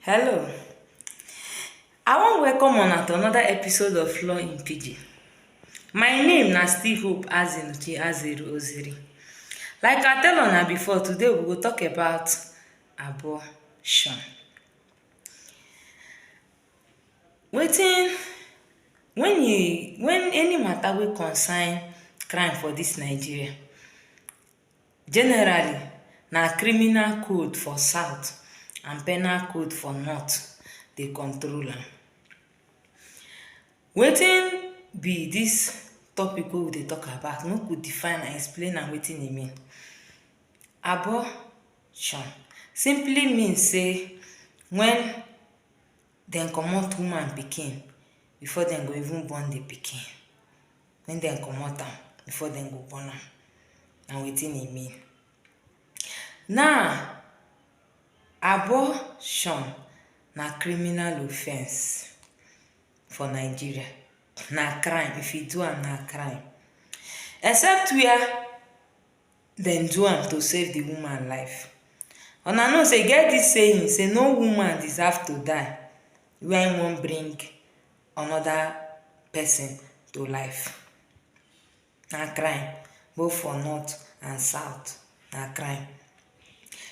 Hello, I wan welcome una to another episode of Law in Pidgin. My name na still Hope Azinuchi Azeri Oziri. Like I tell una before, today we go talk about abortion. Wetin when e when any matter wey concern crime for dis Nigeria, Generally, na criminal code for south and penal code for north dey control am. Wetin be dis topic wey we dey talk about? Make we define am, explain am wetin e mean. Abortion simply mean sey when dem comot woman pikin before dem go even born the pikin. wen dem comot am before dem go burn am na wetin e mean now abortion na criminal offence for Nigeria na crime if you do am na crime except wia dem do am to save di woman life una know say e get dis saying say no woman deserve to die wen e wan bring another person to life. Na crime both for north and south na crime.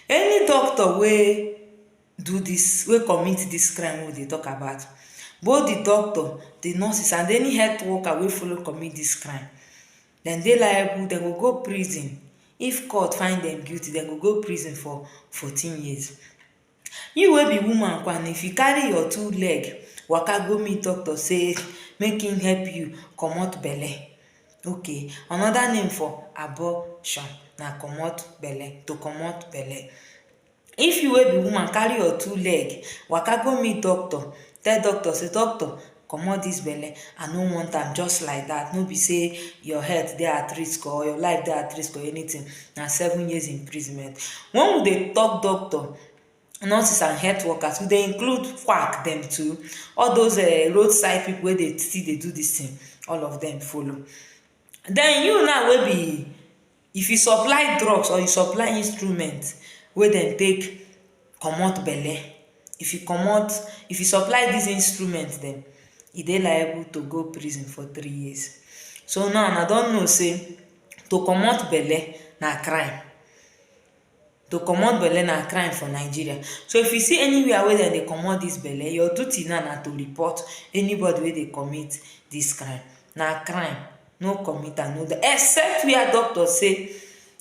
Any doctor wey do this wey commit this crime wey we dey talk about both the doctor, the nurses and any health worker wey follow commit this crime dem dey liable dem go go prison if court find dem guilty dem go go prison for fourteen years. You wey be woman kwan if you carry your two leg waka go meet doctor say make him help you comot belle okay anoda name for abortion na comot belle to comot belle if you wey be woman carry your two leg waka go meet doctor tell doctor say doctor comot this belle i no want am just like that no be say your health dey at risk or your life dey at risk or anything na seven years imprisonment when we dey talk doctor nurses and health workers we dey include quack dem too all those um roadside people wey dey still dey do this thing all of them follow then you now wey be If you supply drugs or you supply instrument wey dem take comot belle, if you comot, if you supply dis instrument dem, you dey liable to go prison for three years. So now una don know sey to comot belle na crime. To comot belle na crime for Nigeria so if you see anywhere wey dem dey comot dis belle your duty now na to report anybody wey dey commit dis crime na crime no commit am no do except where doctor say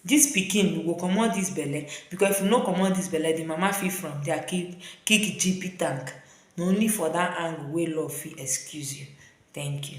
dis pikin you go comot dis belle because if you no comot dis belle di mama fit from dia kick kick GP tank na only for dat angle wey law fit excuse you thank you.